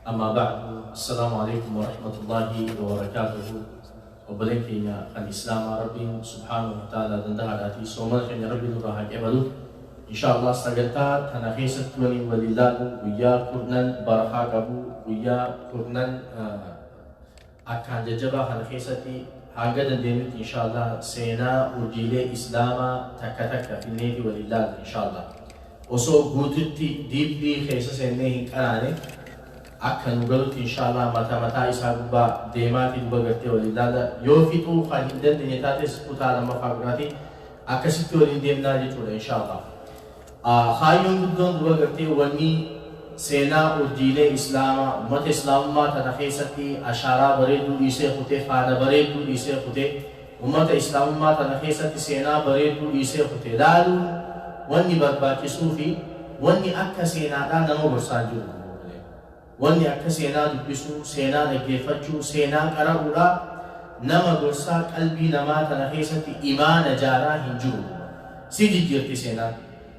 Ammaa ba'd, Assalaamu Aleeykum Warahmatullaahi Wabarakaatuhu Obboleen keenya kan Islaamaa Rabbiin Subhaanahu Wata'aalaa Dandahaadhaatii Soomana keenya Rabbi nurraa haa qeebalu. Inshaa Allaah sagantaa tana keessatti waliin wal ilaallu guyyaa kurnan barakaa qabu, guyyaa kurnan. Akkaan jajjabaa kana keessatti hanga dandeenyutti inshallah seenaa urjiilee islaamaa takka takka finneeti waliin laalla inshallah. Osoo guututti deeply keessa seennee hin qaraane akka nu galutti inshallah mata mataa isaa gubbaa deemaati duba gartee waliin laalla. Yoo fixuu kan hin dandeenye taates kutaa lammaffaa biraati akkasitti waliin deemnaa jechuudha inshallah. a Kaayyoon guddoon duba gartee wanni seenaa urjiilee Islaamaa, ummata Islaamummaa tana keessatti ashaaraa bareedduu dhiisee kute, faana bareedduu dhiisee kute, ummata Islaamummaa tana keessatti seenaa bareedduu dhiisee kute laaluun wanni barbaachisuu fi wanni akka seenaadhaa nama gorsaa jiru. Wanni akka seenaa dubbisuu, seenaa dhaggeeffachuu, seenaa qara'uudhaa nama gorsaa qalbii namaa tana keessatti imaana jaaraa hin jiru duuba. Si jijjiirti seenaan.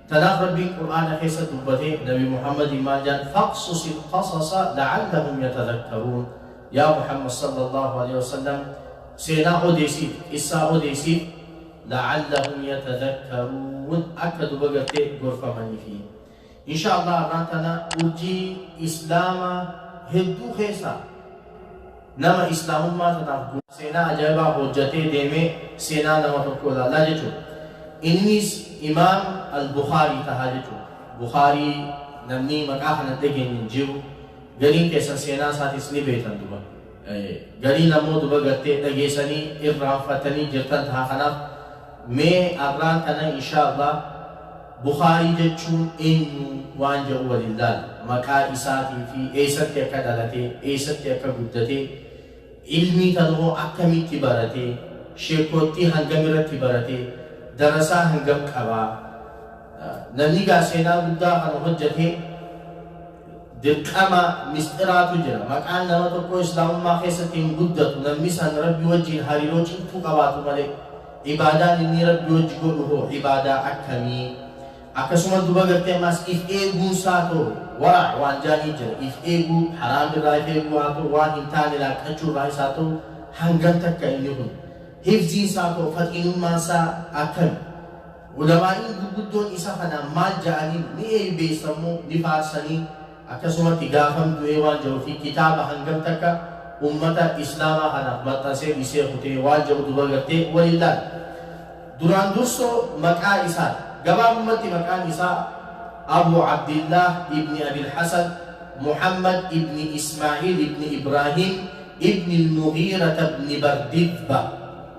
Tanaaf Rabbiin Qur'aana keessa dubbatee Nabi Muhammadiin maal jedhan faqsusi lqasasa lacallahum yatadakkaruun Yaa Muhammad sallallahu aleyhi wasallam seenaa odeesiif, qissaa odeesiif lacallahum yatadakkaruun akka duba gartee gorfamaniifi. Insha Allah arraan tana urjii islaama hedduu keessaa nama islaamummaa tanaaf gumaache seenaa ajaa'ibaa hojjatee deeme seenaa nama tokkoo ilaallaa jechuudha. Innis imaam al-Bukhaarii tahaa jechuudha. Bukhaarii namni maqaa kana hin dhageenye hin jiru. Gariin keessan seenaa isaatis ni beektan duba. Gariin ammoo dura gartee dhageesanii irraanfatanii jirtan taha kanaaf mee arraan tana inshaa allaah bukhaarii jechuun eenyu waan jedhu waliin laalla maqaa isaatii fi eessatti akka dhalatee eessatti akka guddatee ilmii tana hoo akkamitti baratee sheekkoottii hangam irratti baratee darasaa hangam qabaa Namni gaa seenaa guddaa kana hojjate dirqama misxiraatu jira. Maqaan nama tokkoo Islaamummaa keessatti hin guddatu namni san Rabbi wajjiin hariiroo cimtuu qabaatu malee. Ibaadaan inni Rabbi wajji godhu hoo ibaadaa akkamii? Akkasuma duba gartee ammaas if eeguun isaa too wara waan jaanii jira. If eeguu haraam irraa if eeguu haa ta'u waan hin taane laaqqachuu irraa isaa ta'u hangam takka inni kun. Hifziin isaa too faxiinummaan isaa akkami? Ulamaa'iin gurguddoon isa kanaan maal ja'aniin? Ni eeybeessan moo? Ni faarsanii? Akkasumatti gaafam du'ee waan ja'uu fi kitaaba hangam takka ummata Islaamaa kanaaf maxxansee dhisee kutee waan ja'u duba gartee wal hin laalle. Duraan dursoo maqaa isaan. Gabaabumatti maqaan isaa Abuu Abdillaah ibni Abil Hasan Muhammad ibni Ismaa'iil ibni Ibraahiim ibni Al-Mughiirata ibni Bardidba.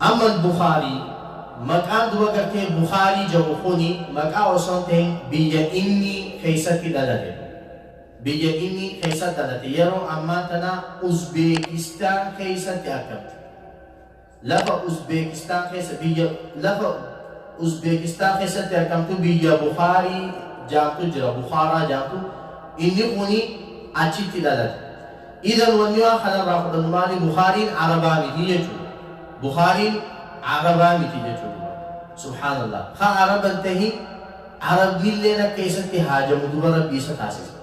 Amma Al-Bukhaari, maqaan dura gartee Bukhaari jedhu kuni maqaa osoo hin tahin biyya inni keessatti dhalate dha. Biyya inni keessatti dhalate yeroo ammaa tana Uzbeekistaan keessatti argamti. Lafa Uzbeekistaan keessa biyya lafa Uzbeekistaan keessatti argamtu biyya Bukhaari jaamtu jira Bukhaaraa jaamtu inni kuni achitti dhalate. Idhan wanni waan kana irraa fudhannu maali? Bukhaariin Arabaa miti jechuu dha. Bukhaariin Arabaa miti jechuu dha. Subhaanallaah. Haa Araban tahin, Arabdiilleen akka isatti haajamu duba Rabbi isa taasise.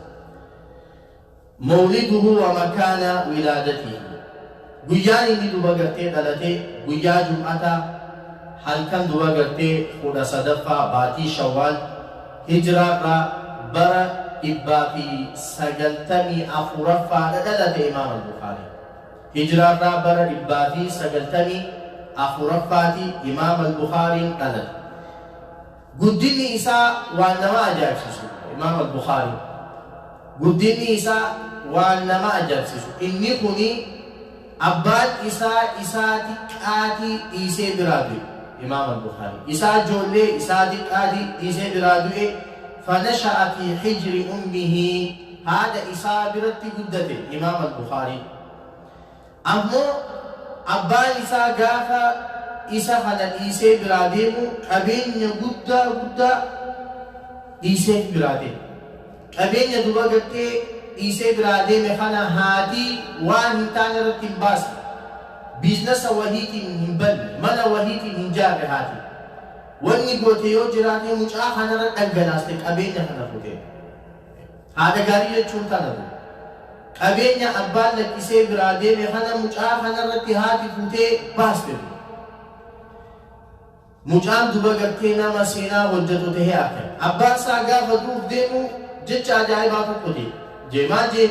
Mawliduhu wa makaana wilaadatihi. Guyyaan inni duba gartee dhalatee guyyaa jum'ataa halkan duba gartee kudha sadaffaa baatii shawwaal hijraarraa bara dhibbaa fi sagaltamii afuraffaadha dhalate imaam al-bukhaarii hijraarraa bara dhibbaa fi sagaltamii afuraffaati imaam al-bukhaariin dhalate Guddinni isaa waan nama ajaa'ibsiisu dha. Imaam Al-Bukhaari Guddinni isaa waan nama ajaa'ibsiisu inni kuni abbaan isaa isaa diqqaatii dhiisee biraa du'e Imaam Al-Bukhaari Isaa ijoollee isaa diqqaatii dhiisee biraa du'e Fanasha'a fi hijri ummihi Haadha isaa biratti guddate Imaam Al-Bukhaari. Ammoo abbaan isaa gaafa isa kana dhiisee biraa deemu qabeenya guddaa guddaa dhiiseet biraa deema. Qabeenya duba gartee dhiisee biraa deeme kana haati waan hin taane irratti hin baasne. Biiznasa wahiitiin hin banne. Mana wahiitiin hin jaarre haati. Wanni goote yoo jiraate mucaa kanarra dhangalaaste qabeenya kana futee. Haadha gaarii jechuun tana dha. Qabeenya abbaan lakkisee biraa deeme kana mucaa kana irratti haati fuutee baaste dha. Mucaan duba gartee nama seenaa hojjatu tahee arkan. Abbaan isaa gaafa du'uuf deemu jecha ajaa'ibaa tokko jee. Jee maal jee?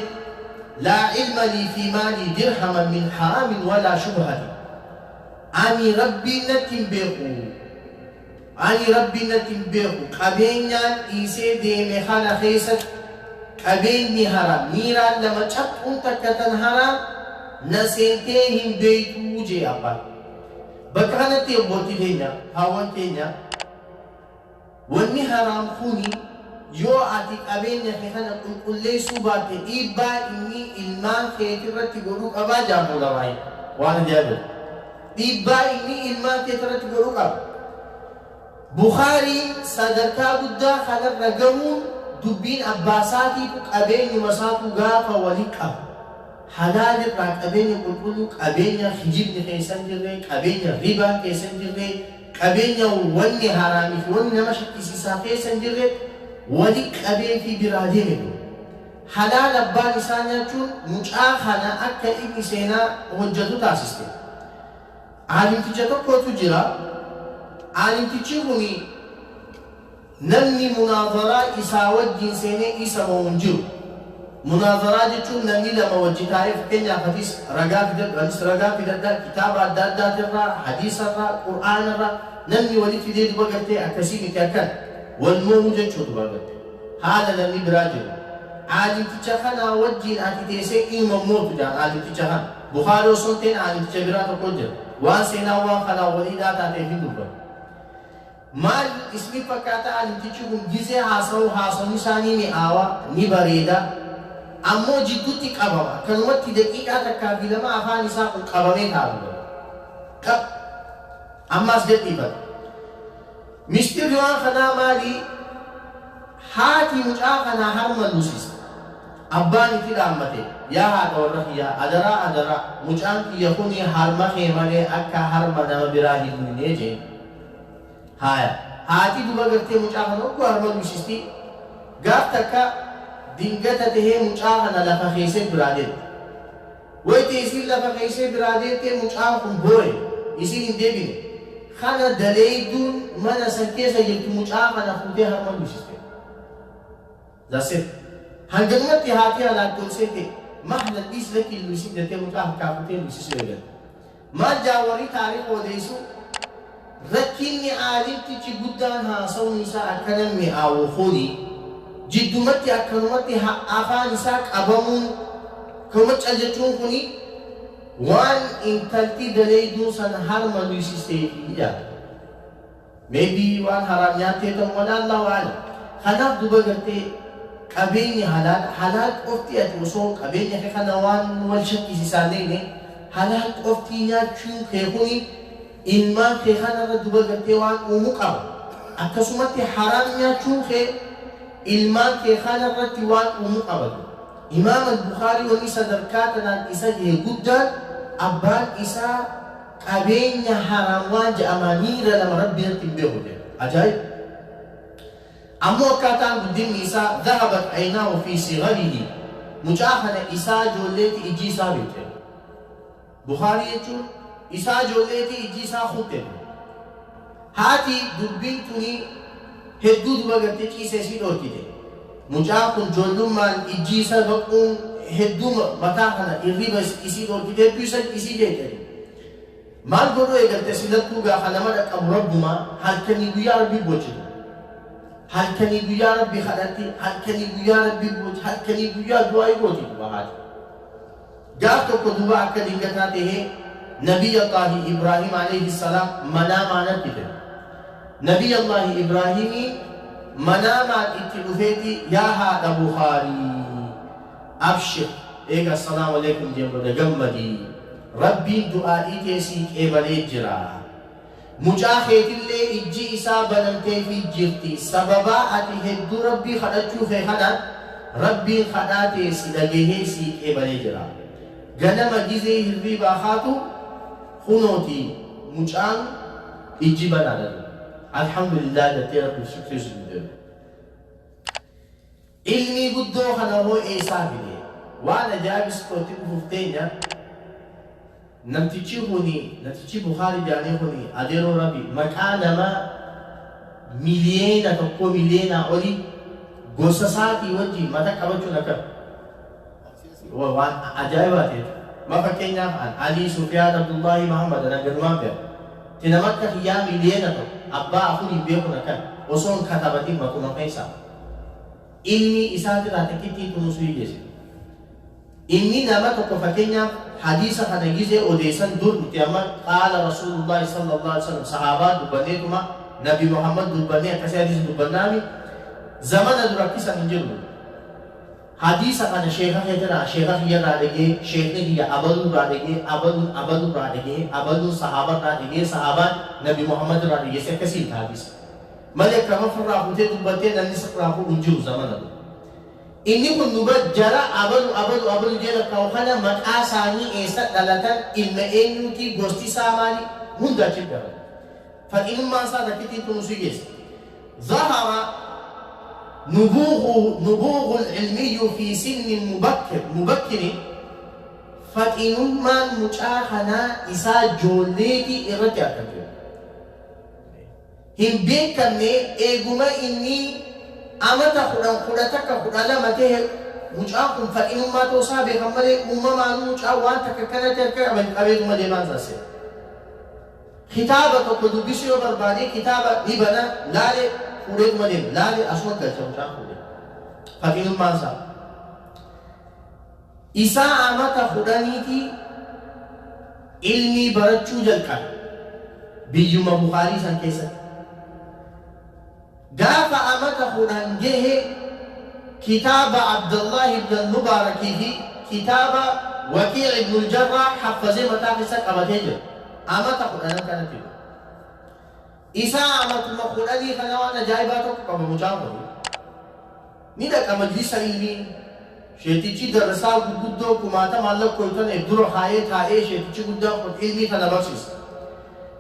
Laa ilma lii fii maalii dirhaman min haraamin walaa shubhatin. Ani Rabbiin natti hin beeku. Ani Rabbi natti hin beeku. Qabeenyaan dhiisee deeme kana keessatti qabeenyi haraa, miiraan lama caphuun takka tan haraa na seentee hin beektu jee abbaan. Bakka kanatti obboolti keenya, haawwan keenya wanni haraam kuni yoo ati qabeenya kee kana qulqulleessuu baatte dhiibbaa inni ilmaan keetirratti godhuu qabaa jaamu ulamaa'in. Waan ajaa'ibati. Dhiibbaa inni ilmaan keessarratti godhu qaba. Bukhaarii sadarkaa guddaa kanarra gahuun dubbiin abbaasaatiitu qabeenyumasaatu gaafa wali qabu, halaalirraa qabeenya qulqulluu, qabeenya kijibni keessa hin jirre, qabeenya ribaan keessa hin jirre, qabeenya wanni haraamiifi wanni nama shakkisiisaa keessa hin jirre wali qabeefii biraa deeme ture. Halaal abbaan isaa nyaachuun mucaa kana akka inni seenaa hojjatu taasiste. Aalimticha tokkotu jira. Aalimtichi kuni namni munaadaraa isaa wajjin seenee isa mo'u hin jiru. Munaadaraa jechuun namni lama wajji taa'ee fakkeenyaaf atis ragaa fidadhu anis ragaa fidadha kitaaba adda addaatirraa, hadiisarraa, qur'aanarraa namni walitti fidee duba gartee akkasii miti akkana. Wal mo'uu jechuu duba gartee. Haala namni biraa jiru. Aalimticha kanaa wajjiin ati teesee ilma hin mootu jedhan aalimticha kana. Bukhaari osoo hin ta'in aalimticha biraa tokko jira. Waan seenaan waan kanaan waliidhaa taateef hin dubbatu. Maal isnif fakkaata aalimtichi kun gizee haasawu haasawni isaa ni mi'aawa, ni bareeda. Ammoo jiddutti qabama. Akkanumatti daqiiqaa takkaa fi lama afaan isaa kun qabamee taa'a dubbata. Qab. Amma as gadhiifata. Mishxirri waan kanaa maali? Haati mucaa kanaa harma lusiste. Abbaan itti dhaammate, Yaa haadha warra kiyyaa, adaraa adaraa, mucaan kiyya kuni harma kee malee akka harma nama biraa hin luyne jeen. Haaya, haati duba gartee mucaa kana ogguu harma lusisti, gaaf takka dingata tahee mucaa kana lafa keeyse biraa deemte. Wayta isiin lafa keeysee biraa deemtee mucaan kun booye isiin hin deebine. Kana daleeyduun mana san keessa jirtu mucaa kana fuutee harma guysiste. That's it. Hanganumatti haatii alaattoomsee tee mahlan dhiis lakki hin luysin jettee mucaa harkaa fuutee luysisuu eegalte. Maal jaa warri taariikh odeessuu? Rakkinni aalimtichi guddaan haasawni isaa akkana mi'aawu kuni jiddumatti akkanumatti afaan isaa qabamuun kanuma cal jechuun kuni waan intalti daleeyduun san harma luysisteefi jedha. Maybe waan haraam nyaattee ta'u mala Allahu a'lam. Kanaaf duba gartee qabeenyi halaal halaal qofti ati osoo qabeenya kee kana waan wal shakkisiisaa hin dheyne halaal qoftii nyaachuu kee kuni ilmaan kee kanarra duba gartee waan uumu qaba. Akkasumatti haraam nyaachuun kee ilmaan kee kanarratti waan uumu qaba. Imaam al-Bukhaarii wanni sadarkaa tanaan isa gahe guddaan abbaan isaa Qabeenya haraam waan ja'amaa miira lama Rabbi irratti hin beeku jedhe. Ajaa'ib! Ammoo akkaataan guddinni isaa dhahabat aynaahu fii sigharihi mucaa kana isaa ijoolleeti ijji isaa beekte. Bukhaarii jechuun isaa ijoolleeti ijji isaa kutte. Haati dubbiin tuni hedduu duba gartee ciisa isii dhoorkite. Mucaan kun joollummaan ijji isa baquun hedduu mataa kana irriba isii dhoorkite hedduu isa isii jeeqe. Maal godhuu eegalte silattuu gaa ka nama dhaqqabu Rabbuma halkanii guyyaa Rabbi boochiti. Halkanii guyyaa Rabbi kadhatti, halkanii guyyaa Rabbi boochi, halkanii guyyaa du'aa'ii gooti duba haati. Gaaf tokko duuba akka dingataa tahee Nabiy Allaahi Ibraahim aleyhi salaam manaamaanat dhife. Nabiy Allaahi Ibraahimii manaamaan itti dhufeeti yaa haadha Bukhaarii abshir eega Assalaamu aleykum jeen booda gammadii Rabbiin du'aa'ii tee sii qeebalee jira. Mucaa keetillee ijji isaa banamteefii jirti, sababaa ati hedduu Rabbii kadhachuu kee kanaan, Rabbiin kadhaa tee si dhagahee sii qeebalee jira. Ganama gizee hirriibaa kaatu, kunooti mucaan ijji banaadha. Alhamdulillah jattee Rabbiif shukrii sujuudeerta. Ilmii guddoo kana hoo eesaa fidee. Waan ajaibis koo itti fufuuf teenya Namtichii kuni natichii bukaari jaanii kuni adeeroo rabi maqaa namaa miliyeena tokkoo miliyeenaa olii gosa isaatii wajjiin mata qabachuun akka waan ajaibaati jechu ma fakkeenyaaf an alii sufiyaan abdullaahii mahammad nan gadumaan beeka ti nama akka kiyyaa miliyeena tokko abbaa afuriin beekun akkan osoon katabatiin matuma keessaa ilmii isaatiraa xiqittii kunuusuu hin dhisin. Inni nama tokko fakkeenyaaf hadiisa kana gizee odeessan dur nuti amma qaala rasuulullaahi sallallahu alaihi wasallam sahaabaa dubbanneetuma nabi Muhammad dubbannee akkasii hadiisa dubbannaami zamana dura akkisan hin jirru. Hadiisa kana sheeka keetiraa sheeka kiyyarraa dhagee sheekni kiyya abaluurraa dhagee abaluun abaluurraa dhagee abaluun sahaabarraa dhagee sahaabaan nabi Muhammad irraa dhageesse akkasii hin taabisa. Mali akka amma firraa futee dubbattee namni sirraa fuudhu hin jiru zamana kun. Inni kun nu bar jara abalu abalu abalu jee lakkaa'u kana maqaa isaanii eessa dhalatan ilma eenyuutii gosti isaa maali hunda achitti dabala. Faxinummaan isaa takkittiin tun usii geessa. Zahara nubuuhu nubuuhul ilmiyyu fi sinni mubakkir mubakkiri faxinummaan mucaa kanaa isaa joolleetii irratti argamte. hin beekamne eeguma inni amata kudhan kudha takka kudha lama tahe mucaan kun fadhinummaa ta'uu isaa beekan malee uumamaanuu mucaan waan takka kanatti harka qaba hin qabeetuma deemaan isaa seena. Kitaaba tokko dubbisuu yoo barbaade kitaaba ni bana laale fuudheetuma deema laale asuma galcha mucaan fuudhe fadhinummaan isaa. Isaa amata kudhaniitii ilmii barachuu jalqabe biyyuma Bukhaarii san keessatti. Gaafa amata kudhan gehe kitaaba Abdallah ibn al-Mubaarak fi kitaaba Waqii' ibn al-Jarraah haffazee mataa keessa qabatee jira. Amata kudhanan kanatti du'e. Isaa amatuma kudhanii kana waan ajaa'ibaa tokko qaba mucaan kun. Ni dhaqa majlisa ilmiin. Sheekichii darrasaa gurguddoo kumaatamaan lakkoytane dura kaayee taa'ee sheekichi guddaan kun ilmii tana barsiisa.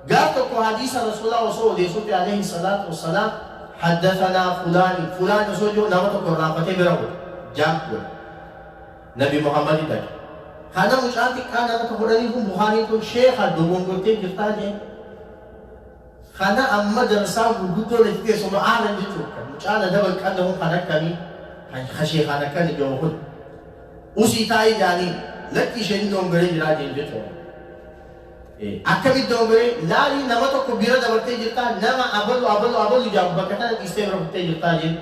Gaaf tokko hadiisa rasuulaa osoo odeesuufi aleyhi salaatu wassalaam haddathanaa fulaani fulaani osoo jiru nama tokko irraanfatee bira godhe. Jaak godhe. Nabi Muhammadi dhaqe. Kana mucaan xiqqaan haraka godhanii kun Bukhaariin kun sheekha dogongortee jirtaa jeen. Kana amma darsaan gurguddoon itti teessu ma'aanan jechuun kan mucaan adaban qannamu kan akkami kan kasheekaan akkani jahu kun usii taa'ii jaanii lakki isheen inni ongaree jiraa jeen jechuun akkami itti ongaree laalii nama tokko bira dabartee jirtaa nama abalu abalu abalu jaamu bakka tana dhiistee bira kuttee jirtaa jeen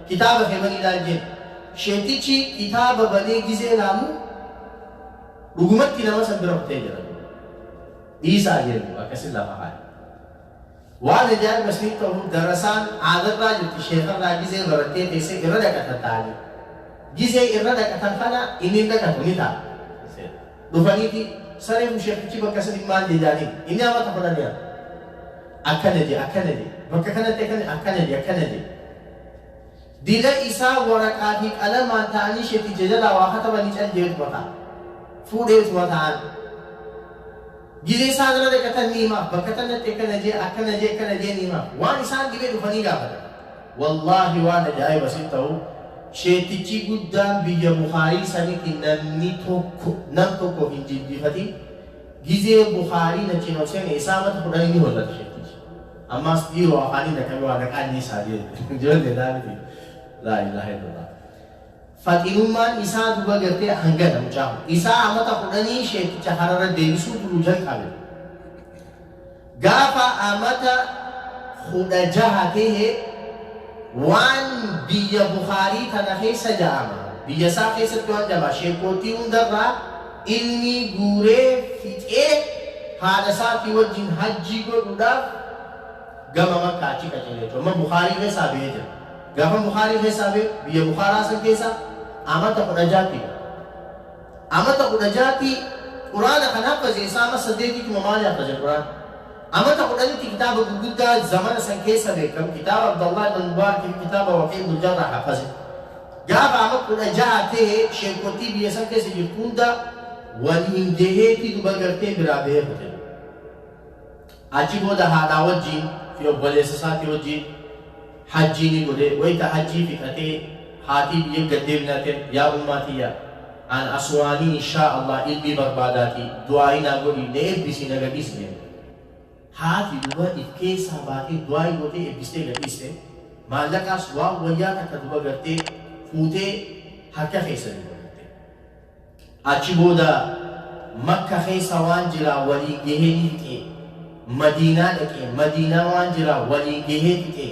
kitaaba kee banii laal jeen sheetichi kitaaba banee gizee laamu dhugumatti nama san bira kuttee jira. Dhiisaa jennu akkasin lafa kaaye. Waan ajaa'iba siin ta'u darasaan aadarraa jirti sheekarraa gizee barattee teessee irra dhaqatan taa'anii. Gizee irra dhaqatan kana inni hin dhaqatu ni taa'a. Dhufaniiti saree kun sheekichi bakka saniin maal je jaaniin inni amata kudhan yaa. Akkana je akkana je bakka kanatti akkana akkana je akkana je. Dila isaa waraqaa fi qalamaan ta'anii sheekii jajalaa waa katabanii cal jee dubata. Fuudhee utuma ta'an. Gizee isaan irra dhaqatan ni hima. Bakka tanatti akkana jee akkana jee akkana jee ni hima. Waan isaan dhibee dhufanii gaafatan. Wallaahi waan ajaa'iba sin ta'u sheetichi guddaan biyya Bukhaarii sanitti namni tokko nam tokko hin jilbiifatin gizee Bukhaarii nachiin ol seene isaamatu kudhanii ni hollata sheetichi. Ammaas dhiiroo afaanii dhaqqabe waa gaqaa dhiisaa jeedhe ijoollee isaa miti laa ilaaha illallah faxinummaan isaa duba gartee hangana mucaa isaa amata kudhanii sheekicha harara deebisuu buluu jalqabe gaafa amata kudha jaha tehe waan biyya bukaarii tana keessa ja'ama biyya isaa keessatti waan ja'ama sheekootii hundarraa Ilmii guuree fixee haadha isaatii wajjin hajjii godhuudhaaf gama Makkaa achi qajeele jechuudha. Amma Bukhaarii keessaa bahee jira. Gaafa Bukhaarii keessaa bahe biyya Bukhaaraa san keessa amata 16 tiin. Amata 16 tii Quraana kan haffaze isaa ama 8 tuma maali haffaze Quraana. Amata kudhanitti kitaaba gurguddaa zamana san keessa beekkamu kitaaba Abdallah ibn Mubaarak fi kitaaba Waqii ibn Jarrah hafaze. Gaafa ama 16 tahe sheekkottii biyya san keessa jirtu hunda waliin gahee fiduba gartee biraa bahee kute. Achi booda haadhaa wajjiin fi obboleessa isaatii wajjiin Hajjii ni godhe wayta hajjii fixatee haatii biyya gad deebinaten yaa ummaa tiyya an aswaanii inshaa allah ilmii barbaadaati du'aa'ii naa godhii na ebbisii na gadhiisi jenne haati duba if keessaa baatee du'aa'ii gootee ebbistee gadhiiste maallaqaas waan wayyaa takka duba gartee fuutee harka keessa duba Achi booda Makka keessa waan jiraa waliin gahee ni fixe, Madiinaa dhaqe, Madiinaa waan jiraa waliin gahee fixe,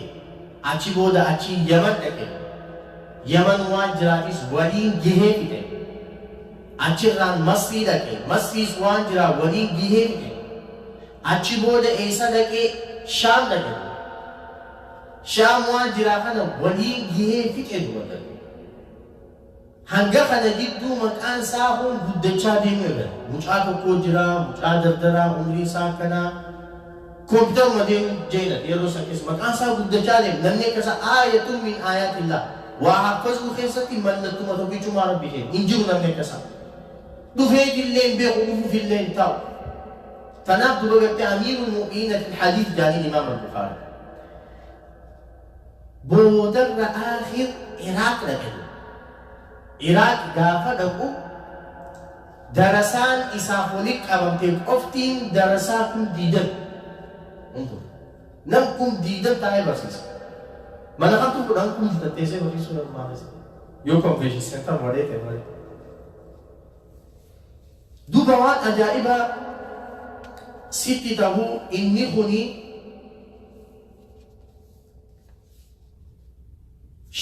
achi booda achii Yaman dhaqe, Yaman waan jiraatiis waliin gahee fixe, achirraan Masrii dhaqe, Masriis waan jiraa waliin gahee fixe, achi booda eessa dhaqe? Shaam dhaqe duba. Shaam waan jiraa kana waliin gahee fixe duba. Hanga kana gidduu maqaan isaa kun guddachaa deemuu eegale. Mucaa tokkoo jira, mucaa dardaraa umriin isaa akkanaa. Kompitaruma deemuu jeelan yeroo san keessa. Maqaan isaa guddachaa deeme. Namni akka isaa aayatun min aayatillaah. Waa haffazuu keessatti mallattuma tokkichumaa Rabbi keenya. Hin jiru namni akka isaa. Dhufeetillee hin beeku, dhufuufillee hin taa'u. Tanaaf duba gartee amiirul mu'miniina fil hadiis jaaniin imaam al-Bukhaarii. Boodarra Aakhir Iraaq dhaqe. Iraaq gaafa dhaqu darasaan isaaf walitti qabamte qoftiin darasaa kum diidami. Nam kum diidam taa'ee barsiisa. Mana kamtu kudhan kum ditatteessee barsiisuu nama maafisa. Yoo konveeshin seentar malee ta'e malee. Duuba waan ajaa'ibaa sitti ta'uu inni kuni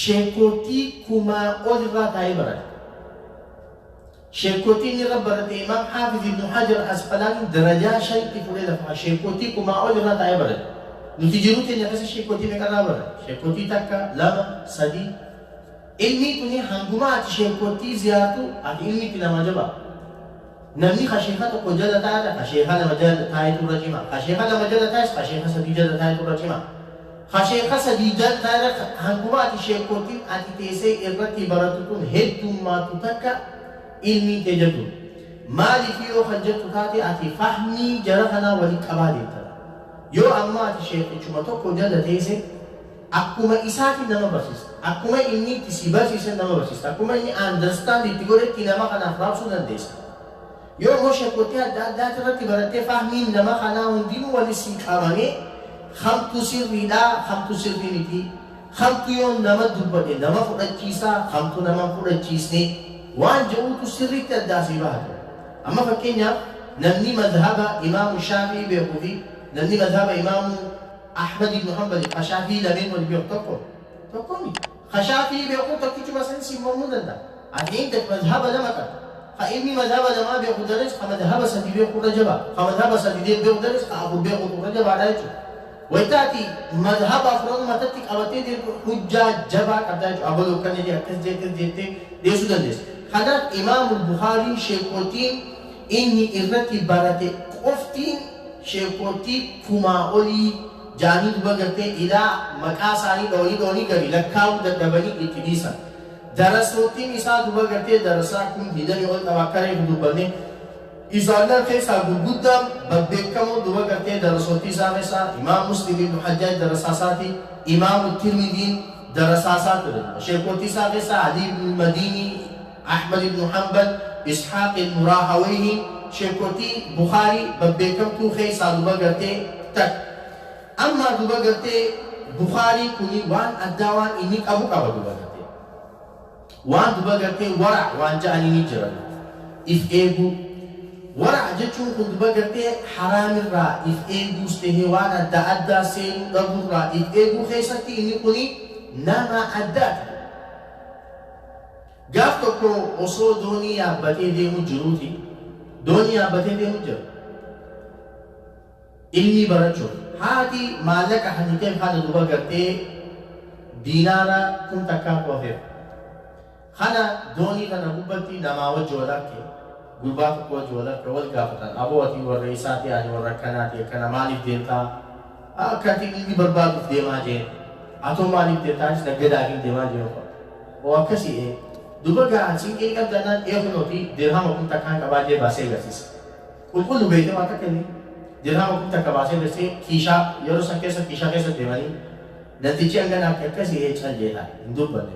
Shenkoortii kumaa ol irraa taa'ee barata. Shenkoortii inni irra barate Imaam Haafiz Ibnu Hajar Asqalaanii darajaa shanitti fuudhee lafa kaa'a. Shenkoortii kumaa ol irraa taa'ee barate. Nuti jiruu teenya keessa shenkoortii meeqa irraa barate? Shenkoortii takka, lama, sadii. Ilmii tuni hanguma ati shenkoortii ziyaartu ati ilmi itti namaa jabaa. Namni ka sheekha tokko jala taa'e ka sheekha lama jala taa'etu irra cima. Ka sheekha lama jala taa'es ka sheekha sadii jala taa'etu irra cima. Ka sheekha sadii jala taa'e irra hanguma ati sheekkottiin ati teessee irratti barattu tun heddummaattu takka ilmiin tee jabdu. Maaliif yoo kan jettu taate ati fahmii jara kanaa walitti qabaa deemta. Yoo ammaa ati sheekhichuma tokko jala teesse Akkuma isaati nama barsiista. Akkuma inni itti si barsiisen nama barsiista. Akkuma inni understand itti godhetti nama kanaaf raabsuu dandeessa. Yoo immoo shekootee adda addaati irratti barattee fahmiin nama kanaa hundinuu wali sii qabamee kamtu sirriidha kamtu sirrii miti kamtu yoo nama dubbate nama fudhachiisa kamtu nama fudhachiisne waan jedhuutu sirriitti addaa sii baha ture. Amma fakkeenyaaf namni madhaba imaamu shaafii beekuu fi namni madhaba imaamu Ahmad ibn Hanbali ka Shaafi'ii lameen waliin beeku tokko? Tokko miti. Ka Shaafi'ii beekun tokkichuma san siin mormuu danda'a. Ati eeggat mazhaba lama qabda. Ka inni mazhaba lamaa beeku dares ka mazhaba sadi beeku irra jabaa. Ka mazhaba sadi beeku dares ka afur beekutu irra jabaadha jechuudha. Wayta ati mazhaba afranuu matatti qabattee deemtu hujjaa jabaa qabda jechuudha. Abaluu akkana jedhe akkas jedhe akkas jedhe jettee dhiyeessuu dandeessa. Kanaaf Imaamul Bukhaariin sheekootiin inni irrati barate qoftiin sheekkoottii kumaa olii jaanii duba gartee ilaa maqaa isaanii dhooni dhooni gari lakkaawuu dadhabanii itti dhiisan. Darasoottiin isaa duba gartee darasaa kun hidani ol dhaba akka reefu dubbanne isaannan keessaa gurguddaan babbeekkamoo duba gartee darasoottii isaa keessaa imaam muslim ibnu hajjaaj darasaa isaati imaamu tirmidiin darasaa isaa ture duba sheekkoottii isaa keessaa alii ibnu madiinii Ahmad ibnu Hanbal, Ishaaq ibnu Raahaweyhii, sheekkotii Bukhaarii babbeekamtuu keessaa duba gartee takka. Ammaa duba gartee Bukhaariin kuni waan addaa waan inni qabu qaba duba gartee. Waan duba gartee wara' waan ja'aniini jira duba. If eeguu. Wara' jechuun kun duba gartee haraamirraa if eeguus tahee waan adda addaa seenuu dhaburraa if eeguu keessatti inni kuni nama addaati duba. Gaaf tokko osoo doonii yaabbatee deemu jiruuti, doonii yaabbatee deemu jira. Ilmii barachuuf. Haati maallaqa hatiteef haadha duba gartee diinaara kum takkaatu hafeef. Kana doonii tana gubbatti namaa wajji wal arke, gurbaa tokko wajji wal arke wal gaafatan. Aboo ati warra eessaati? Ani warra akkanaati akkana maaliif deemtaa? Akka ati dhiigi barbaaduuf deemaa jee atoo maaliif deemta anis naggadaafin deemaa jee ofa oo akkasii ee duba gaa siinqee ni qabda naan ee kunooti dirhama kun takkaan qabaa jee baasee agarsiisa qulqullu beeyte waa takka inni dirhama kun takka baasee agarsiisee kiishaa yeroo san keessa kiishaa keessa deemanii namtichi hangana akka akkasii ee cal jeetaa hin dubbanne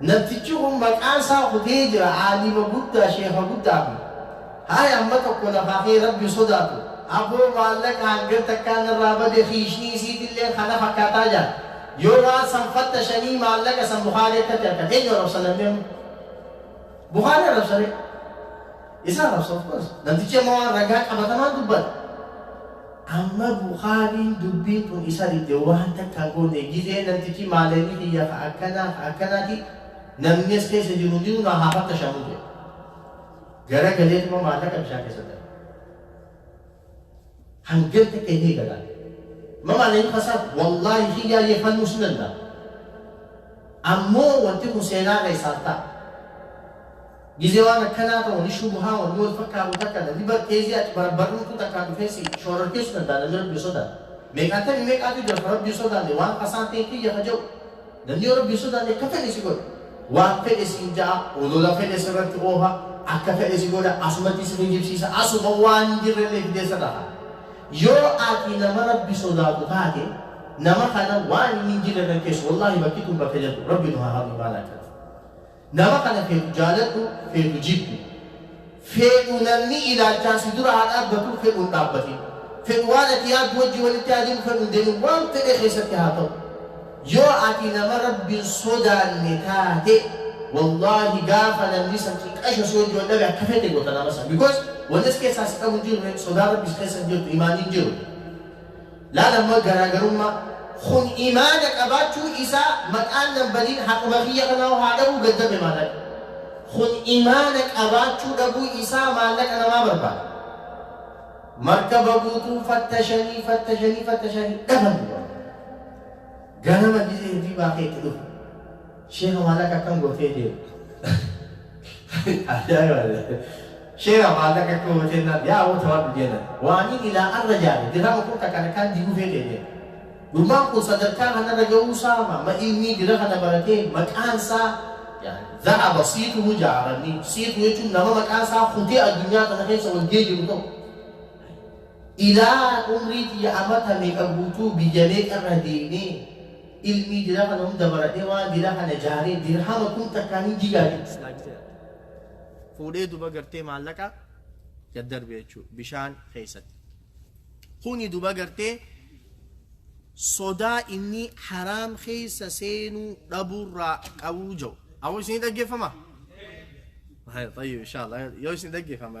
Namtichi kun maqaan isaa kutee jira aalima guddaa sheekha guddaa kun haaya amma tokko lafaa ka'ee rabbi sodaatu aboo maallaqa hangan takkaa narraa bade kiishnii isiitilleen kana fakkaataa jaan yoo waan san fattashanii maallaqa san bukaari akkatti arkan eenyu arrabsa namni amma bukaari arrabsaree isa arrabsa of course namtichi amma waan ragaa qabatamaan dubbata Amma bukhaariin dubbiin tun isa didde waan takka goone gizee namtichi maaleyni kiyya ka akkanaa ka akkanaati namni as keessa jiru hundinuu naa haa fattashamu jedhe gara galeetuma maallaqa bishaan keessa darbe hangan takka hin eegalaan ma maaleyni kasaaf wallaahi kiyyaa yeeffannuu sin danda'a ammoo wanti kun seenaa keessaan ta'a Gizee waan akkanaa ta'u ni shubuhaa wanni wal fakkaatu takka na ni barteesii ati barbarruutu takkaa dhufee si shoorarkeessu danda'a namni Rabbiin sodaanne. Meeqaatami meeqaatu jira ka Rabbiin sodaanne waan tasaa ta'e kiyya ka ja'u. Namni yoo Rabbiin sodaanne akka fedhe si godha. Waan fedhe siin ja'a, olola fedhe sirratti oofa, akka fedhe si godha, asumatti si kijibsiisa, asuma waan hin jirrellee fidee sirra kaa'a. Yoo ati nama Rabbi sodaatu taate nama kana waan inni hin jirre irra hin keessu. Wallaahi bakki tun bakka jabdu. Rabbi nu haa hafu imaana akkatti. Nama kana feetu jaaladhu, feetu jibbi. Feedhu namni ilaalchaan si dura haa dhaabbatu, fedhu hin dhaabbatin. Fedhu waan ati yaaddu wajjin walitti haa deemu, fedhu hin deemin. Waan fedhe keessatti haa ta'u. Yoo ati nama Rabbi hin sodaanne taate, wallaahi gaafa namni san xiqqasho si wajjin wal dhabe akka feete goota nama san. Because wanni as keessaa si qabu hin jiru ree, sodaan Rabbi si keessa hin jirtu, imaanni hin jiru. Laal amma garaagarummaa. Kun imaana qabaachuu isaa maqaan nan badin haquma kiyya kanaa haa dhabuu gaddame maallaqa. Kun imaana qabaachuu dhabuu isaa maallaqa namaa barbaada. Markaba guutuu fattashanii fattashanii fattashaa hin dhaban. Ganama gizee hirribaa ka'e itti dhufu. Sheeka maallaqa akkam gootee deemte? Ajaa'iba! Sheeka maallaqa akkam gootee naan yaa aboo tawadhu jeenan. Waaniin ilaa arra jaare dirama kun takka takkaan diguu feetee deemte. Gurmaan kun sadarkaa kanarra ga'uu isaa ma ma ilmii dira kana baratee maqaan isaa za'aba siituhu jaaranni siitu jechuun nama maqaan isaa kutee addunyaa kana keessa wal ga'ee jiru tokko. Ilaa umrii xiyya amata meeqa guutuu biyya meeqa irra deemee Ilmii dira kana hunda baradhee waan dira kana jaaree dirhama kum takkaan hin jigaa jetti. Laaktee ati. Fuudhee duba gartee maallaqa gad darbe jechuudha bishaan keessatti. Kuni duba gartee sodaa inni haraam keessa seenuu dhabuurraa qabuu jiru. Ammoo isin dhaggeeffama? Tayyib inshallah yoo isin dhaggeeffama.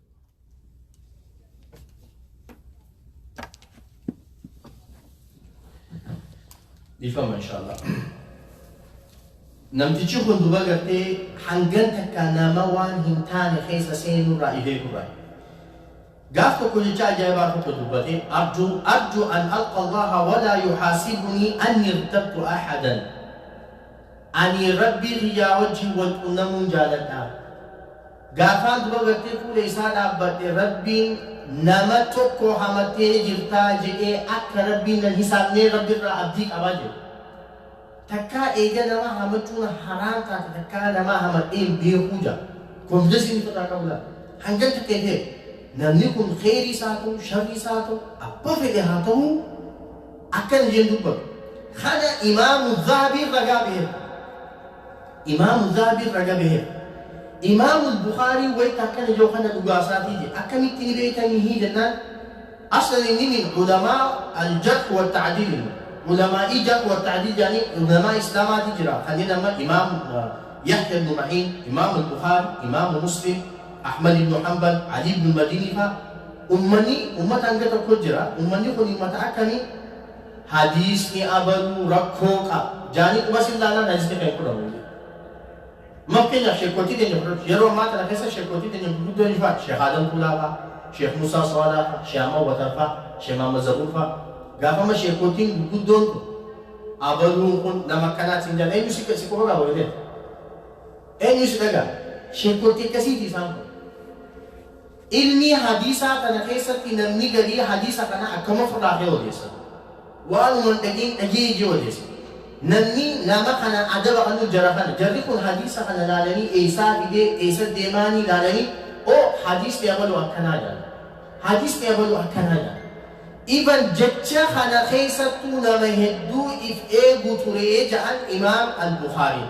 dhiifama inshallah namtichi kun duba gartee hangan takka nama waan hin taane keessa seenurraa ifee turre gaaf tokko jecha ajaa'ibaa tokko dubbate arju arju an alqa allaha walaa yuhaasibunii anni irtabtu ahadan ani rabbii kiyyaa wajjin wal qunnamuun jaaladha Gaafaa guba gartee fuula isaa dhaabbadhe Rabbiin nama tokko hamattee jirtaa jedhee akka Rabbiin nan hisaabnee Rabbi irraa abdii qabaa jedhe. Takkaa eega namaa hamachuun haraam taate takkaa namaa hamadhee hin beekuu ja'a. Confidence inni irraa qabu laal. Hangan takka hin heeru. Namni kun kheyrii isaa ta'u, sharrii isaa ta'u, abba fedhe haa ta'u akkana jeen dubbatu. Kana imaamu Zahabiin ragaa baheera. Imaamu Zahabi irraa gabaheera. Imaamul Bukhaariin wayta akkana jau kana dhugaa isaatii jedhe. Akkamitti ni beeytanii hii jennaan aslan inni min ulamaa al-jarh wa ta'dil inni. Ulamaa'ii jarh wa ta'dil jedhanii ulamaa Islaamaatii jira. Kanneen amma Imaam Yahya ibn Ma'iin, Imaamul Bukhaari, Imaamu Muslim, Ahmad ibn Hanbal, Ali ibn al-Madini faa. Ummanni ummata hanga tokko jira. Ummanni kun ummata akkamii? Hadiisni abaluu rakkoo qaba jaanii quba sin laalaan hadiisni kan hin fudhamu hin jiru. Fakkeenyaaf sheekkootii teenya fudhadhu. Yeroo ammaa tana keessa sheekkootii teenya gurguddoo eenyu fa'a? Sheekh Aadam Tuulaa fa'a, Sheekh Muusaa Soodaa fa'a, Sheekh Ahmad Watar fa'a, Sheekh Mahammad Zabuur fa'a. Gaafa amma sheekkootiin gurguddoon kun abaluun kun nama akkanaati siin jedhan eenyu si si quba qaba waliin eenyu si dhagaa? Sheekkootii akkasiiti isaan kun. Ilmii hadiisaa tana keessatti namni garii hadiisa kana akkam ofirraa kee odeessa? Waanuma hin dhagiin dhagii ijee odeessa. Namni nama kana adaba kanuu jara kana. Jarri kun hadiisa kana laalanii eessaa fidee, eessa deemaanii laalanii oo hadiisni abaluu akkanaa jedhan. Hadiisni abaluu akkanaa jedhan. Even jecha kana keessattuu nama hedduu if eegu turee jedhan Imaam Al-Bukhaariin.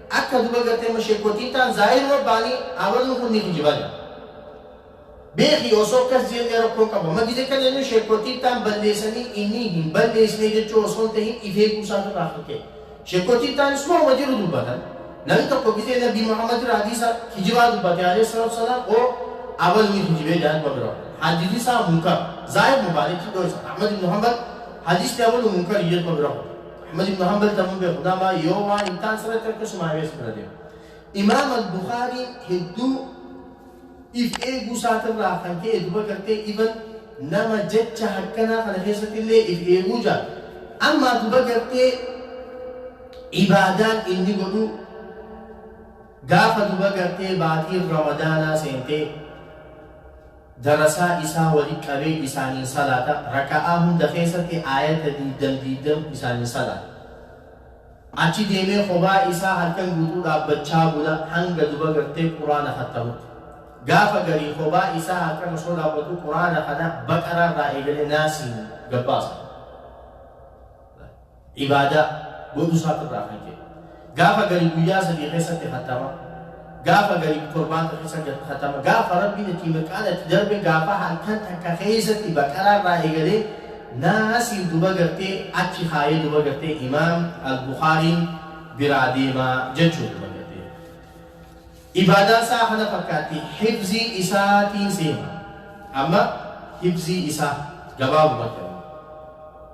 Akka duba garte mo shekotitan zahir mo bani amarun kun ni kijiban beki oso akkas jene rakko qaba ma gide kan enu shekotitan ballesani ini hin ballesne jechu oso hin tahin if egu isatu irra kan ka'e shekotitan is mo ma jiru dubatan nami tokko gide nabi muhammad irra hadisa kijiba dubate aleh salatu salam o abal ni kijibe jaan wa bira hadisi isa munkar zahir mo bani kiddo isa ahmad ibn hanbal hadisni abalu munkar ijir ko bira Ahmad ibn Hanbal tamuu beeku nama yoo waan hin taan sirratti harka sumaa beesu bira deemu. Imaam al-Bukhaariin hedduu if eeguu isaatirraa kan ka'e duba gartee iban nama jecha hakkanaa kana keessatti illee if eeguu jaa. Amma duba gartee ibaadaan inni godhu gaafa duba gartee baatiin ramadaanaa seentee darasaa isaa wali qabee isaaniin salaata, raka'aa hunda keessatti aayata diiddam diiddam isaaniin salaata. Achi deemee kophaa isaa halkan guutuu dhaabbachaa bula hanga duba gartee quraana khattamutti. Gaafa garii kophaa isaa halkan osoo dhaabbatu quraana khana baqaraa irraa eegalee naasiin gabbaasa. ibaadaa, godhuu isaatu irraa kan ka'e. Gaafa gari guyyaa sadii keessatti khatama, gaafa gari torbaata keessatti khatama, gaafa Rabbiin itti mirqaana itti darbe gaafa halkan takka keessatti baqaraa irraa eegalee naasii duba gartee achi kaayee duba gartee imaam al-Bukhaariin biraa deemaa jechuun duba gartee. Ibaadaa isaa kana fakkaatti hibzii isaatiin seema. Amma hibzii isaa gabaabumatti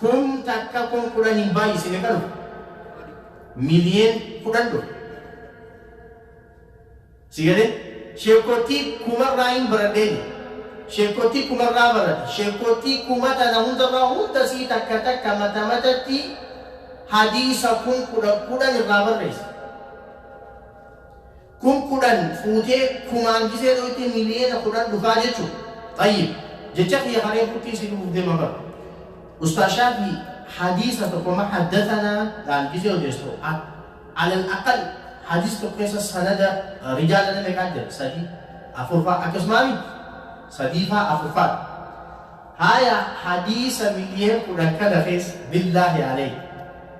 Kum takka kum kudhaniin baay'ise meeqa dhufa? Miliyen kudhan dhufa. Si galee? Sheekottii kumarraa hin baradhee jira. Sheekottii kumarraa barate. Sheekottii kuma tana hundarraa hunda sii takka takka mata matatti hadiisa kum kudhan kudhan irraa barreessa. Kun kudhan fuutee kumaan gisee dhoytee miliyeena kudhan dhufaa jechu? Xayyib jecha kiyya ka reefuttii si dhufuuf deema bar. Ustaaz Shaafii hadiisa tokko ma haddatanaa dhaan gisee odeessu alal aqal hadiis tokko keessa sanada rijaala nama meeqaa jira? Sadii afur faa akkasumaa miti? Sadii faa afur faa Haaya hadiisa miliyeen kudhan kana keessa billaahi aleyk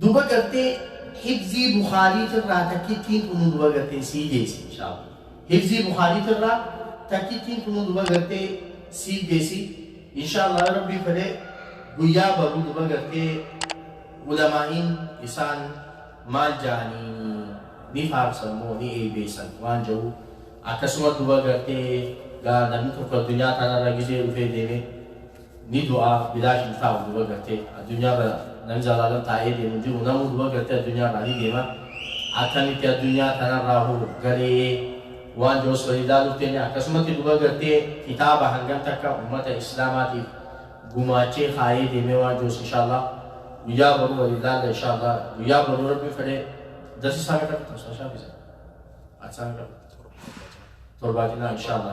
Duba gartee hifzii bukhaariitirraa takkittiin tunuu duba gartee sii deesi inshaalla hifzii bukhaariitirraa takkittiin tunuu duba gartee sii deesi inshaalla yoo rabbiin fedhe guyyaa baru duba gartee ulamaa'iin isaan maal jaanii ni faarsan moo ni eebeessan waan jahu akkasuma duba gartee gaa namni tokko addunyaa tanarra gizee dhufee deemee ni du'a bilaash hin taa'u duba gartee addunyaarra nam jalaala taa'ee deemu hin jiru namuu duba gartee addunyaarraa ni deema akkamitti addunyaa tanarraa hoo galee waan jiru osoo ilaaluuf teenne akkasumatti duba gartee kitaaba hangam takka ummata islaamaatiif gumaachee kaayee deemee waan jirus inshaallah guyyaa boruu wal ilaalla inshaallah guyyaa boruu rabbi fedhee darsi isaa meeqa fixu isaa shaafisa ati isaa meeqa fixu torbaatinaa inshaallah